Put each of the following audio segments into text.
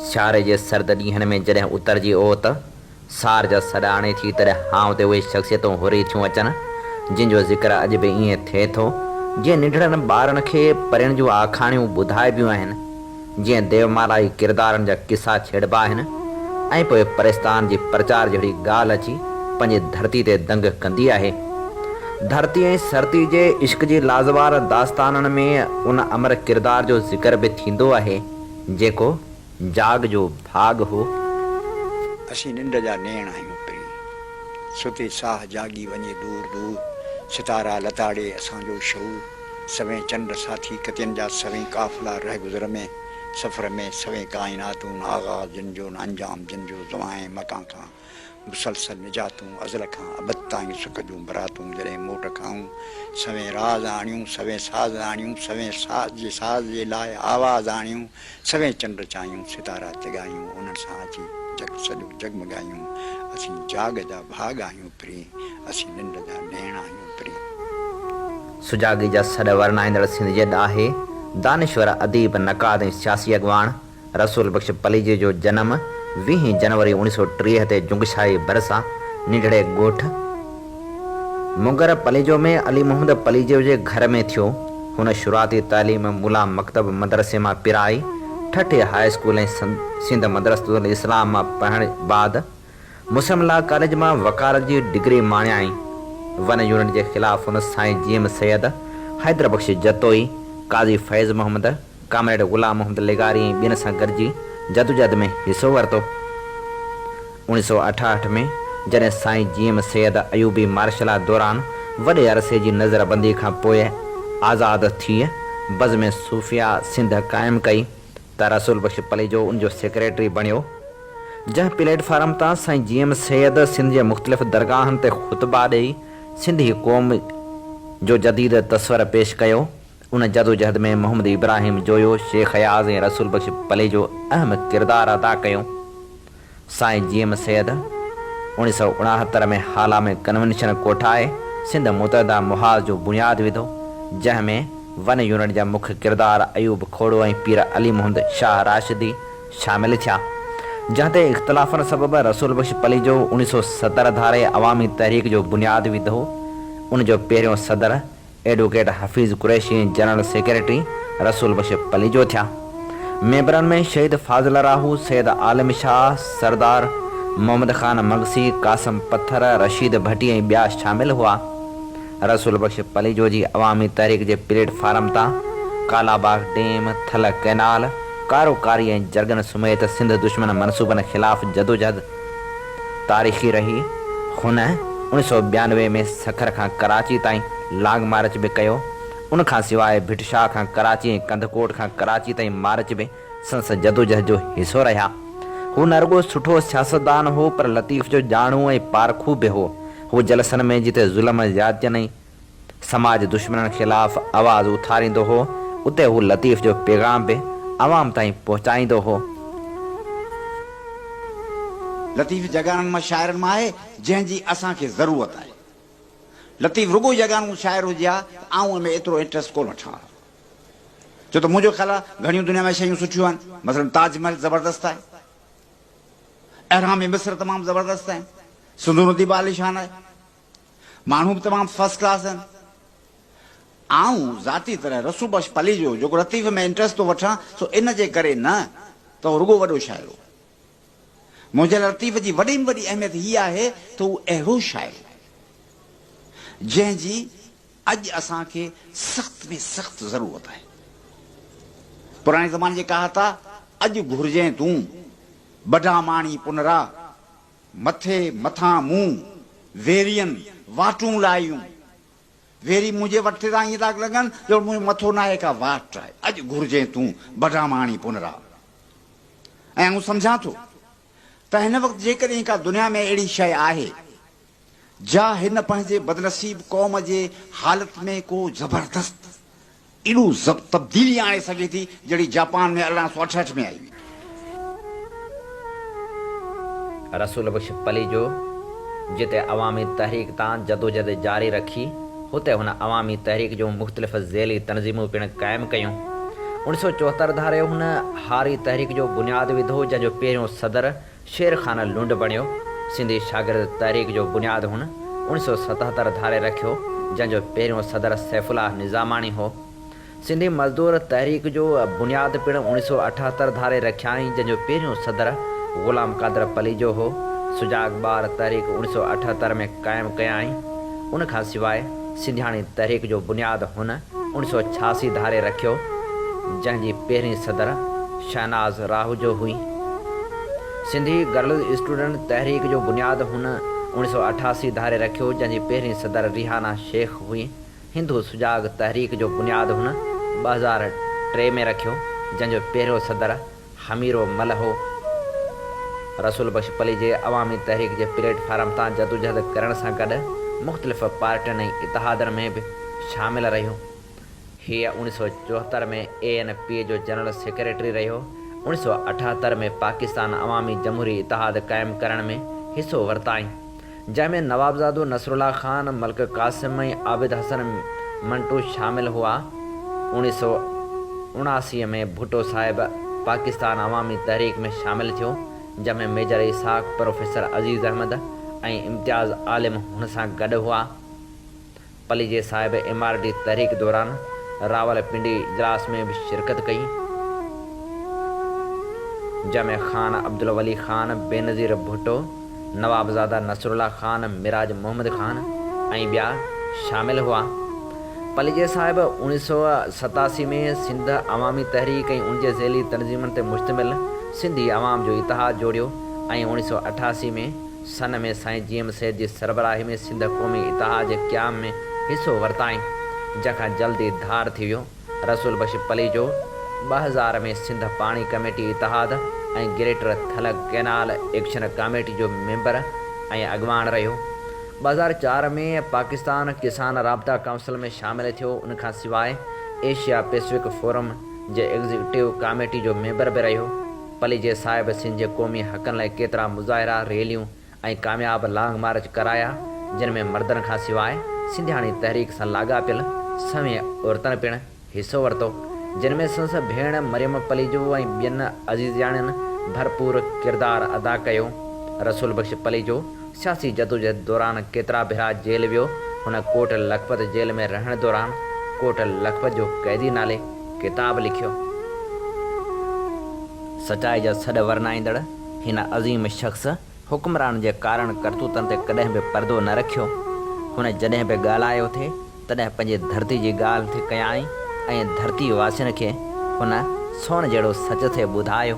سياري جي سرد ڏينهن ۾ جڏهن اترجي اوت سار جا سڏ آڻي ٿي، تڏهن هانء تي اهي شخصيتون هري ٿيون اچن، جن جو ذڪر اڄ به ائين ٿئي ٿو، جيئن ننڍڙن ٻارن کي پرين جون آکاڻيون ٻڌائبيون آهن. جيئن ديومالائي ڪردارن جا قصا ڇيڙبا آهن ۽ پوء پرستان جي پرچار جهڙي ڳالهه اچي پنهنجي ڌرتي تي دنگ ڪندي آهي. ڌرتي ۽ سرتي جي عشق جي لازوال داستانن ۾ ان امر ڪردار جو ذڪر به ٿيندو آهي، جيڪو جاڳ جو ڀاڳ هو. اسين ننڊ جا نيڻ آهيون پڻي. ستي ساهه جاڳي وڃي دور دور. ستارا لتاڙي اسان جو شعور. سوين چنڊ ساٿي ڪتين جا سوين قافلا رهگذر ۾، سفر ۾، سوين ڪائناتون آغاز جن جو نه انجام جن جو زوائين متان کان مسلسل نجاتون ازل کان ابد تائين سک جون براتون جڏهن موٽ کائون سوين راز آڻيون سوين ساز آڻيون سوين ساز جي ساز جي لاء آواز آڻيون سوين چنڊ چايون، ستارا جڳايون، انهن سان اچي جڳ سڄو جڳمڳايون، اسين جاڳ جا ڀاڳ آهيون پرين، اسين ننڊ جا نيڻ آهيون پرين. سجاڳي جا سڏ ورنائيندڙ سنڌ جي ڏاهي، دانشور، اديب، نقاد ۽ سياسي اڳواڻ رسول بخش پليجي جو جنم ويهين جنوري اوڻيهه سؤ ٽيهه تي جنگشاهي ڀرسان ننڍڙي ڳوٺ، مگر پليجو ۾ علي محمد پليجو جي گهر ۾ ٿيو. هن شروعاتي تعليم ملا مڪتب مدرسي مان پرائي، ٺٽي هاء اسڪول ۽ سنڌ مدرسة الاسلام مان پڙهڻ بعد مسلم لا ڪاليج مان وڪالت جي ڊگري ماڻيائين. ون يونٽ جي خلاف هن سائين جيئم سيد، حيدر بخش جتوئي، قاضي فيض محمد، ڪامريڊ غلام محمد لغاري ۽ ٻين سان گڏجي جدوجهد ۾ حصو ورتو. اوڻيھ سؤ اٺاهٺ ۾ جڏهن سائين جي ايم سيد ايوبي مارشل لا دوران وڏي عرصي جي نظر بندي کان پوء آزاد ٿيء بزم صوفياء سنڌ قائم ڪئي ته رسول بخش پليجو ان جو سيڪريٽري بڻيو جنهن پليٽ فارم تان سائين جي ايم سيد سنڌ جي مختلف درگاهن تي خطبا ڏئي سنڌي قوم جو جديد تصور پيش ڪيو. ان جدوجهد ۾ محمد ابراهيم جويو، شيخ اياز ۽ رسول بخش پليجو اهم ڪردار ادا ڪيو. سائين جي ايم سيد اوڻيھ سؤ اڻاهتر ۾ هالا ۾ ڪنوينشن ڪوٺائي سنڌ متحده محاذ جو بنياد وڌو، جنهن ۾ ون يونٽ جا مک ڪردار ايوب کوڙو ۽ پير علي محمد شاهه راشدي شامل ٿيا، جنهن تي اختلافن سبب رسول بخش پليجو اوڻيھ سؤ ستر ڌاري عوامي تحريڪ جو بنياد وڌو، ان جو پهريون صدر. Advocate Hafeez Qureshi ۽ general secretary Rasool Bakhsh Palijo ٿيا. ميمبرن ۾ شهيد فاضل راهو، سيد عالم شاهه، سردار محمد خان مگسي، قاسم پٿر، رشيد ڀٽي ۽ ٻيا شامل هئا. رسول بخش پليجو جي عوامي تحريڪ جي پليٽ فارم تان ڪالاباغ ڊيم، ٿل ڪئنال، ڪارو ڪاري ۽ جرڳن سميت سنڌ دشمن منصوبن خلاف جدوجهد تاريخي رهي. هن اوڻي سؤ ٻيانوي ۾ سکر کان ڪراچي تائين لانگ مارچ به ڪيو. ان کان سواء ڀٽ شاهه کان ڪراچي ۽ ڪنڌڪوٽ کان ڪراچي تائين مارچ به سندس جدوجهد جو حصو رهيا. هو نه رڳو سٺو سياستدان هو پر لطيف جو ڄاڻو ۽ پارکو به هو. هو جلسن ۾ جتي ظلم، زيادتين ۽. سماج دشمنن خلاف آواز اٿاريندو هو اتي هو لطيف جو پيغام به عوام تائين پهچائيندو هو. لطيف يگانن مان شاعرن مان آهي جنهن جي اسان کي ضرورت آهي. لطيف رڳو يگانو شاعر هجي ها ته آئون ان ۾ ايترو انٽريسٽ ڪو نه ٺاهان ها. ڇو ته منهنجو خيال آهي گهڻيون دنيا ۾ شيون سٺيون آهن مثلاً تاج محل زبردست آهي. اهرام مصر تمام زبردست آهن. سنڌو ندي به عاليشان آهي. ماڻهو به تمام فرسٽ ڪلاس آهن. آئون ذاتي طرح رسول بخش پليجو جيڪو لطيفي ۾ انٽرسٽ ٿو وٺان سو ان جي ڪري نه ته هو رڳو وڏو شاعر هو. منهنجي لاء لطيفي جي وڏي ۾ وڏي اهميت هي آهي ته هو اهڙو شاعر هو جنهن جي اڄ اسان کي سخت ۾ سخت ضرورت آهي. پراڻي زماني جي ڪهاتا اڄ گهرجين تون، بڍا ماڻهي پنرا. مٿي مٿان مون ويرين واٽون لايون. ويري منهنجي وٽ ٿا ائين ٿا لڳن ڄڻ منهنجو مٿو ناهي ڪا واٽ آهي. اڄ گهرجين تون بڊاماڻي پنرا. ۽ آئون سمجهان ٿو ته هن وقت جيڪڏهن ڪا دنيا ۾ اهڙي شيء آهي جا هن پنهنجي بدنصيب قوم جي حالت ۾ ڪو زبردست اهڙو ضبط تبديلي آڻي سگهي ٿي جهڙي جاپان ۾ ارڙهن سؤ اٺهٺ ۾ آئي هئي. رسول بخش پليجو جتي عوامي تحريڪ تان جدوجهد جاري رکي هتي هن عوامي تحريڪ جون مختلف ذيلي تنظيمون پڻ قائم ڪيون. اوڻ سؤ چوهتر ڌاري هن هاري تحريڪ جو بنياد وڌو جنهن جو پهريون صدر شير خان لنڊ بڻيو. سنڌي شاگرد تحريڪ جو بنياد هن اوڻي سؤ ستهتر ڌاري رکيو، جنهن جو پهريون صدر سيف الله نظاماڻي هو. سنڌي مزدور تحريڪ جو بنياد پڻ اوڻي سؤ اٺهتر ڌاري رکيائين، جنهن جو پهريون صدر غلام قادر پليجو هو. سجاڳ ٻار تحريڪ اوڻي سؤ اٺهتر ۾ قائم ڪيائين. ان کان سواء سنڌياڻي تحريڪ جو بنياد هن. اڻ سؤ ڇياسي ڌاري رکيو، جنهن جي پهرين صدر شهناز راهوجو هئي. سنڌي گرلز اسٽوڊنٽ تحريڪ جو بنياد هن اڻ سؤ اٺاسي ڌاري رکيو، جنهن جي پهرين صدر ريحانه شيخ هئي. هندو سجاڳ تحريڪ جو بنياد هن ٻه هزار ٽي ۾ رکيو، جنهن جو پهريون صدر هميرو ملهو رسول بخش پليجي عوامي تحريڪ جي پليٽ فارم تان جدوجهد ڪرڻ سان گڏ مختلف پارٽين ۽ اتحادن ۾ به شامل رهيو. هيء اوڻي سؤ چوهتر ۾ اي اين پي جو جنرل سيڪريٽري رهيو. اوڻي سؤ اٺهتر ۾ پاڪستان عوامي جمهوري اتحاد قائم ڪرڻ ۾ حصو ورتائين. جنهن ۾ نوابزادو نصرالله خان، ملڪ قاسم ۽ عابد حسن منٽو شامل هئا. اوڻيهه سؤ اڻاسي ۾ ڀٽو صاحب پاڪستان عوامي تحريڪ ۾ شامل ٿيو، جنهن ۾ ميجر اسحاق، پروفيسر عزيز احمد ۽ امتياز عالم هن سان گڏ هئا. پليجي صاحب ايم آر ڊي تحريڪ دوران راولپنڊي اجلاس ۾ به شرڪت ڪئي جنهن ۾ خان عبدالولي خان، بينظير ڀٽو، نوابزاده نصرالله خان، معراج محمد خان ۽ ٻيا شامل هئا. پليجي صاحب اوڻيهه سؤ ستاسي ۾ سنڌ عوامي تحريڪ ۽ ان جي ذيلي تنظيمن تي مشتمل سنڌي عوام جو اتحاد جوڙيو ۽ اوڻيهه سؤ اٺاسي ۾ سن ۾ سائين جي ايم سيد جي سربراهي ۾ سنڌ قومي اتحاد جي قيام ۾ حصو ورتائين، جنهن کان جلد ئي ڌار ٿي ويو. رسول بخش پليجو ٻه هزار ۾ سنڌ پاڻي ڪميٽي اتحاد ۽ greater Thal canal action committee جو ميمبر ۽ اڳواڻ رهيو. ٻه هزار چار ۾ پاڪستان ڪسان رابطا ڪائونسل ۾ شامل ٿيو. ان کان سواء ايشيا پيسفڪ فورم جي ايگزيڪٽو ڪاميٽي جو ميمبر به رهيو. پليجي صاحب سنڌ جي قومي حقن لاء ڪيترا مظاهرا، ريليون ۽ ڪامياب لانگ مارچ ڪرايا، جن ۾ مردن کان سواء سنڌياڻي تحريڪ سان لاڳاپيل سوين عورتن پڻ حصو ورتو، جن ۾ سندس ڀيڻ مريم پليجو ۽ ٻين عزيزياڻين ڀرپور ڪردار ادا ڪيو. رسول بخش پليجو سياسي جدوجهد دوران ڪيترا ڀيرا جيل ويو، هن ڪوٽ لکپت جيل ۾ رهڻ دوران ڪوٽ لکپت جو قيدي نالي، ڪتاب لکيو. سچائي جا سڏ ورنائيندڙ هن عظيم شخص حڪمران جي ڪارن ڪرتوتن تي ڪڏهن به پردو نه رکيو. هن جڏهن به ڳالهايو ٿي تڏهن پنهنجي ڌرتي جي ڳالهه ٿي ڪيائين ۽ ڌرتي واسين کي هن سون جهڙو سچ ٿي ٻڌايو.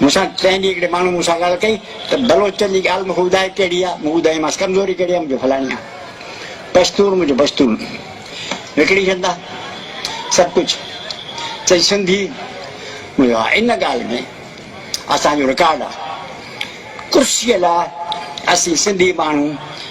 مون سان ٽئين ڏينهن هڪڙي ماڻهوء مون سان ڳالهه ڪئي ته بلوچن جي ڳالهه مون کي ٻڌاء ڪهڙي آ؟ مون ٻڌايومانس ڪمزوري ڪهڙي آ؟ منهنجو فلاڻي آ. پشتون منهنجو پشتون. وڪڻي ڇڏندا سڀ ڪجهه. چئي سنڌي؟ مون چيو ها ان ڳالهه ۾ اسان جو رڪارڊ آ. ڪرسيء لاء اسين سنڌي ماڻهو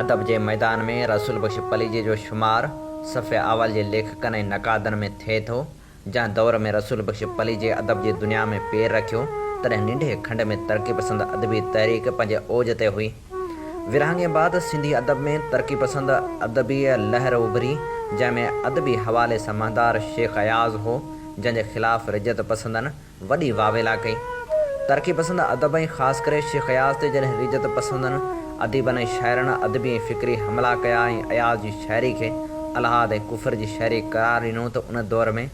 ادب جي ميدان ۾ رسول بخش پليجي جو شمار صفحه اول جي ليکڪن ۽ نقادن ۾ ٿئي ٿو، جنهن دور ۾ رسول بخش پليجي ادب جي دنيا ۾ پير رکيو، تڏهن ننڍي کنڊ ۾ ترقي پسند ادبي تحريڪ پنهنجي اوج تي هئي. ورهاڱي بعد سنڌي ادب ۾ ترقي پسند ادبيء لهر اڀري، جنهن ۾ ادبي حوالي سان مهندار شيخ اياز هو، جنهن جي خلاف رجعت پسندن، وڏي واويلا ڪئي. ترقي پسند ادب ۽ خاص ڪري شيخ اياز تي جڏهن ريجت پسندن اديبن ۽ شاعرن ادبي ۽ فڪري حملا ڪيا ۽ اياز جي شاعري کي الحاد ۽ ڪفر جي شاعري قرار ڏنو ته ان دور ۾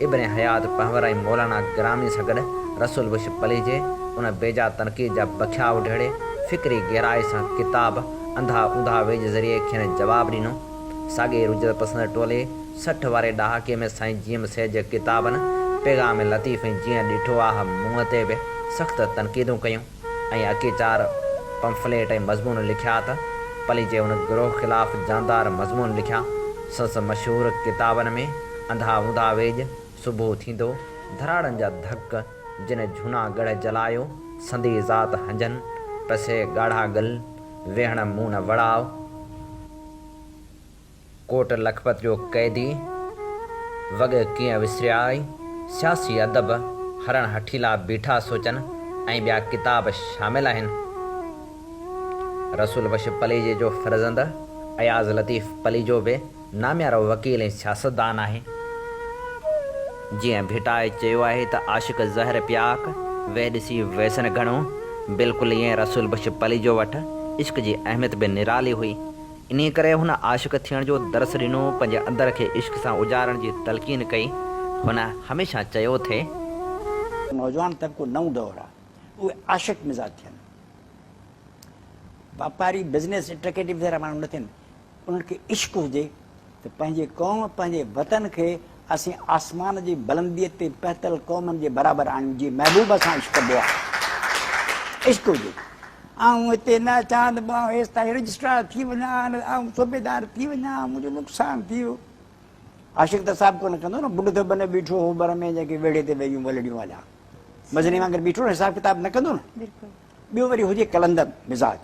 ابن حيات پنهور ۽ مولانا گرامي سان گڏ رسول بخش پليجي ان بيجا تنقيد جا بکيا اڍهڙي فڪري گهرائي سان ڪتاب انڌا اوندها ويجهه ذريعي کين جواب ڏنو. ساڳئي رجت پسند ٽولي سٺ واري ڏهاڪي ۾ سائين جيئم سيد جي ڪتابن پيغام لطيف ۽ جيئن ڏٺو آه منهن تي به سخت تنقيدون ڪيون ۽ اڪي چار پمفليٽ ۽ مضمون لکيا ته پلي جي ان گروهه خلاف جاندار مضمون لکيا. سنس مشهور ڪتابن ۾ انڌا اوندها ويڄ، صبح ٿيندو، ڌراڙن جا ڌڪ، جن جهونا ڳڙهه جلايو، سندي ذات هنجن، پسي ڳاڙها ڳل، ويهڻ مون نه وڙاء، ڪوٽ لکپت جو قيدي وڳ ڪيئن وسريائي، سياسي ادب، هرڻ هٺيلا بيٺا سوچن ۽ ٻيا ڪتاب شامل آهن. رسول بخش پليجي جو فرزند اياز لطيف پليجو به ناميارو وڪيل ۽ سياستدان آهي. جيئن ڀٽائي چيو آهي ته عاشق زهر پياڪ، ويهه ڏسي ويسن گهڻو، بلڪل ايئن رسول بخش پليجو وٽ عشق جي اهميت به نرالي هئي. انهيء ڪري هن عاشق ٿيڻ جو درس ڏنو، پنهنجي اندر کي عشق سان اجارڻ جي تلقين ڪئي. هن هميشه چيو ٿي. نوجوان طبقو نئون دور آ، اهي عاشق مزاج ٿين. واپاري، بزنس اٽرڪيٽو وغيره ماڻهو نه ٿين، انهن کي عشق هجي. ته پنهنجي قوم، پنهنجي وطن کي اسين آسمان جي بلنديء تي پهتل قومن جي برابر آهيون، جي محبوب سان عشق ڪبو آهي. عشق هجي. آئون هتي نه اچان ته به آئون هيس تائين رجسٽرار ٿي وڃان، نه ته آئون صوبيدار ٿي وڃان، منهنجو نقصان ٿي ويو. عاشق ته حساب ڪونه ڪندو نه، ٻڍ ته بنهه بيٺو هو ڀر ۾، جنهن کي ويڙهي تي ويهيون ولڙيون هليا. مزني وانگر بيٺو نه، حساب ڪتاب نه ڪندو نه. ٻيو وري هجي قلندر مزاج.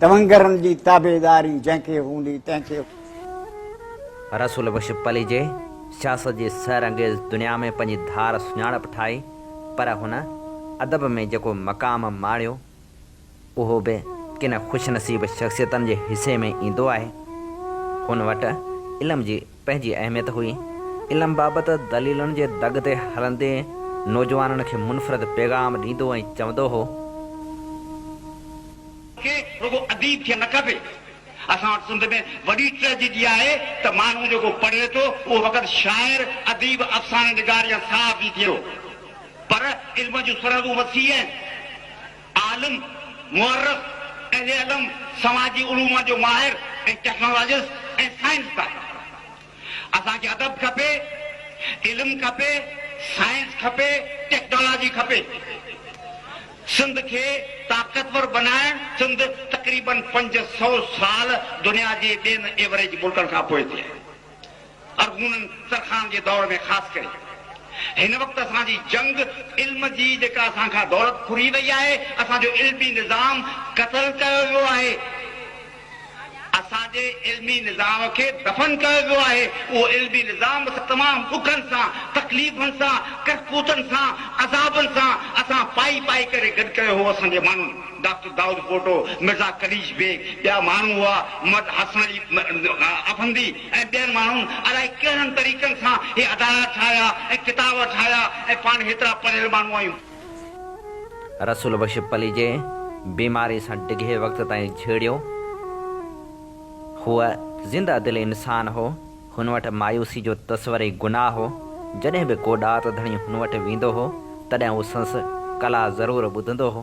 تونگرن جي تابعداري جنهن کي هوندي تنهن کي. رسول بخش پليجي سياست جي سحر انگيز دنيا ۾ پنهنجي ڌار سڃاڻپ ٺاهي پر هن ادب ۾ جيڪو مقام ماڻيو اهو به ڪن خوشنصيب شخصيتن جي حصي ۾ ايندو آهي هن وٽ علم جي پنهنجي اهميت هئي. علم بابت دليلن جي دڳ تي هلندي نوجوانن کي منفرد پيغام ڏيندو ۽ چوندو هو. کي رڳو اديب ٿيڻ نه کپي. اسان وٽ سنڌ ۾ وڏي ٽريجڊي آهي ته ماڻهو جيڪو پڙهي ٿو اهو فقط شاعر، اديب، افسانه نگار يا صحافي ٿئي ٿو. پر علم جون سرحدون وسيع آهن. عالم، مؤرخ، اهل علم، سماجي علوم جو ماهر ۽ ٽيڪنالاجسٽ ۽ سائنسدان. اسان کي ادب کپي، علم کپي، سائنس کپي، ٽيڪنالاجي کپي. سنڌ کي طاقتور بنائڻ سنڌ تقريبن پنج سؤ سال دنيا جي ٻين ايوريج ملڪن کان پوئتي آهي. ارغونن ترخان جي دور ۾ خاص ڪري هن وقت اسان جي جنگ علم جي جيڪا اسان کان دولت ڦري وئي آهي اسان جو علمي نظام قتل ڪيو ويو آهي اسان جي علمي نظام کي دفن ڪيو ويو آهي اهو علمي نظام تمام ڏکن سان تڪليفن سان ڪرڪوتن سان عذابن سان اسان پائي پائي ڪري گڏ ڪيو هو اسان جي ماڻهن ڊاڪٽر دائود پوٽو، مرزا قليچ بيگ، ٻيا ماڻهو هئا، محمد حسن علي افندي ۽ ٻين ماڻهن الائي ڪهڙن طريقن سان هي ادارا ٺاهيا ۽ ڪتاب ٺاهيا ۽ پاڻ هيترا پڙهيل ماڻهو آهيون. رسول بخش پليجي بيماري سان ڊگهي وقت تائين جهيڙيو. هو زنده دل انسان هو. هن وٽ مايوسي جو تصور ئي گناهه هو. جڏهن به ڪو ڏات ڌڻي هن وٽ ويندو هو، تڏهن هو سنس ڪلا ضرور ٻڌندو هو.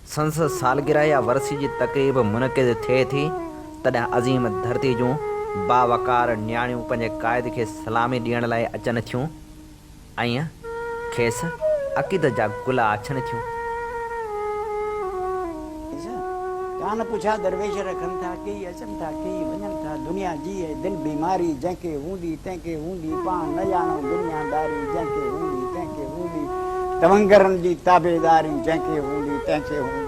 سندس سالگرهه يا ورسي جي تقريب منعقد ٿئي ٿي، تڏهن عظيم ڌرتي جون باوقار نياڻيون پنهنجي قائد کي سلامي ڏيڻ لاء اچن ٿيون ۽ کيس عقيدت جا گل آڇن ٿيون. ڪان پڇا درويش رکن ٿا ڪي. اچن ٿا ڪي وڃن ٿا دنيا جي اي دل بيماري جنهن کي هوندي تنهن کي هوندي پاڻ نه ڄاڻو دنيا داري جنهن کي هوندي تنهن کي هوندي تونگرن جي تابعداري جنهن کي هوندي تنهن کي هوندي.